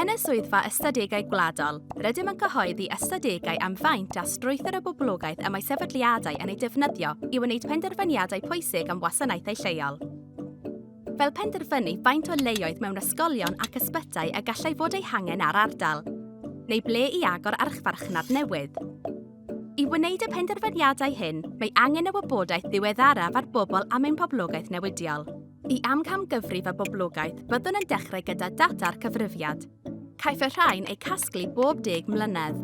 Yn y Swyddfa Ystadegau Gwladol, rydym yn cyhoeddi ystadegau am faint a strwythur y boblogaeth y mae sefydliadau yn ei defnyddio i wneud penderfyniadau pwysig am wasanaethau lleol. Fel penderfynu faint o leoedd mewn ysgolion ac ysbytai y gallai fod eu hangen ar ardal, neu ble i agor archfarchnad newydd. I wneud y penderfyniadau hyn, mae angen y wybodaeth ddiweddaraf ar bobl am ein poblogaeth newidiol. Y amcangyfrif a boblogaeth byddwn yn dechrau gyda data'r cyfrifiad. Caiff y rhain eu casglu bob deg mlynedd.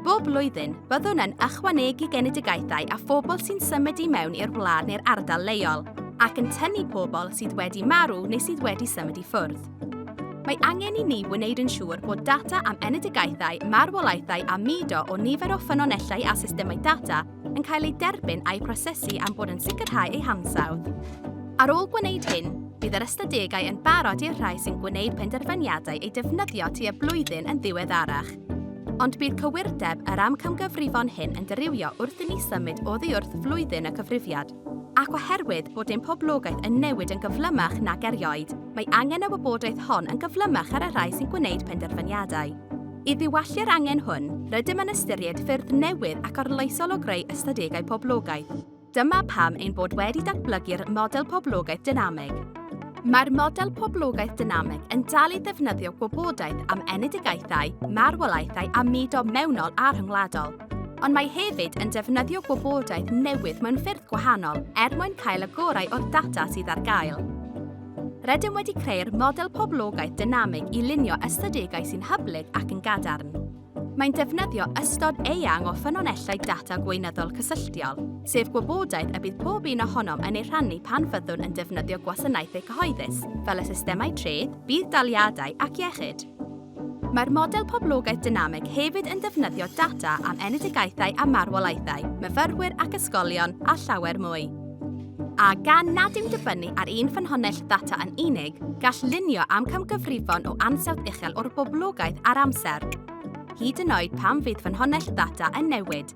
Bob blwyddyn, byddwn yn ychwanegu genedigaethau a phobl sy'n symud i mewn i'r wlad neu'r ardal leol, ac yn tynnu pobl sydd wedi marw neu sydd wedi symud i ffwrdd. Mae angen i ni wneud yn siŵr bod data am enedigaethau, marwolaethau a mudo o nifer o ffynonellau a systemau data yn cael eu derbyn a'u prosesu am bod yn sicrhau eu hansawdd. Ar ôl gwneud hyn, bydd yr ystadegau yn barod i'r rhai sy'n gwneud penderfyniadau eu defnyddio tu a blwyddyn yn ddiweddarach. Ond bydd cywirdeb yr amcamgyfrifon hyn yn dirywio wrth i ni symud oddi wrth flwyddyn y cyfrifiad. Ac oherwydd bod ein poblogaeth yn newid yn gyflymach nag erioed, mae angen y wybodaeth hon yn gyflymach ar y rhai sy'n gwneud penderfyniadau. I ddiwallu'r angen hwn, rydym yn ystyried ffyrdd newydd ac arloesol o greu ystadegau poblogaeth. Dyma pam ein bod wedi datblygu'r Model Poblogaeth Dynamig. Mae'r Model Poblogaeth Dynamig yn dal i ddefnyddio gwybodaeth am enedigaethau, marwolaethau a mudo mewnol a rhyngwladol. ond mae hefyd yn defnyddio gwybodaeth newydd mewn ffyrdd gwahanol er mwyn cael y gorau o'r data sydd ar gael. Rydym wedi creu'r model poblogaeth dynamig i lunio ystadegau sy'n hyblyg ac yn gadarn. Mae'n defnyddio ystod eang o ffynonellau data gweinyddol cysylltiol, sef gwybodaeth y bydd pob un ohonom yn ei rhannu pan fyddwn yn defnyddio gwasanaethau cyhoeddus, fel y systemau treth, budd-daliadau ac iechyd. Mae'r model poblogaeth dynamig hefyd yn defnyddio data am enedigaethau a marwolaethau, myfyrwyr ac ysgolion, a llawer mwy. A gan nad yw'n dibynnu ar un ffynhonnell ddata yn unig, gall lunio am camgyfrifon o ansawdd uchel o'r boblogaeth ar amser, hyd yn oed pan fydd ffynhonnell ddata yn newid.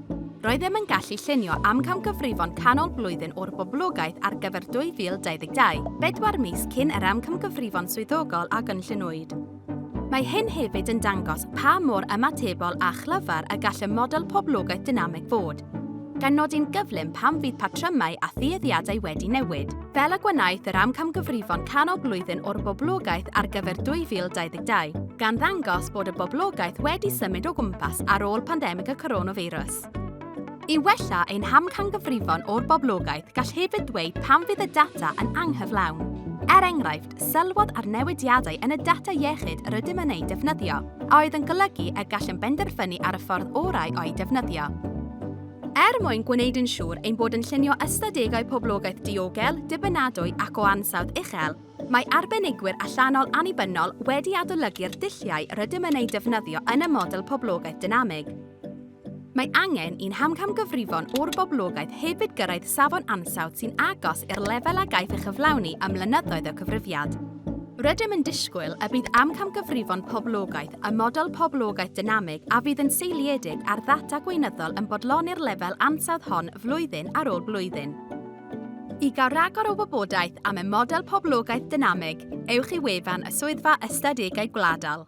Roeddem yn gallu llunio amcamgyfrifon canol blwyddyn o'r boblogaeth ar gyfer 2022, bedwar mis cyn yr amcamgyfrifon swyddogol a gynlluniwyd. Mae hyn hefyd yn dangos pa mor ymatebol a chlyfar y gall y model poblogaeth dynamig fod, gan nodi'n gyflym pam fydd patrymau a thueddiadau wedi newid. fel y gwenaeth yr amcamgyfrifon canol blwyddyn o'r boblogaeth ar gyfer 2022, gan ddangos bod y boblogaeth wedi symud o gwmpas ar ôl pandemig y coronafeirws. I wella ein hamcangyfrifon o'r boblogaeth, gall hefyd ddweud pam fydd y data yn anghyflawn. Er enghraifft, sylwodd ar newidiadau yn y data iechyd yr ydym yn eu defnyddio, a oedd yn golygu y gallem benderfynu ar y ffordd orau o'i defnyddio. Er mwyn gwneud yn siŵr ein bod yn llunio ystadegau poblogaeth diogel, dibynadwy ac o ansawdd uchel, mae arbenigwyr allanol annibynnol wedi adolygu'r dulliau rydym yn eu defnyddio yn y model poblogaeth dynamig. Mae angen i'n hamcamgyfrifon o'r boblogaeth hefyd gyrraedd safon ansawdd sy'n agos i'r lefel a gaiff ei chyflawni ym mlynyddoedd o cyfrifiad. Rydym yn disgwyl y bydd amcamgyfrifon poblogaeth y model poblogaeth dynamig a fydd yn seiliedig ar ddata gweinyddol yn bodloni'r lefel ansawdd hon flwyddyn ar ôl blwyddyn. I gael rhagor o wybodaeth am y model poblogaeth dynamig, ewch i wefan y Swyddfa Ystadegau Gwladol.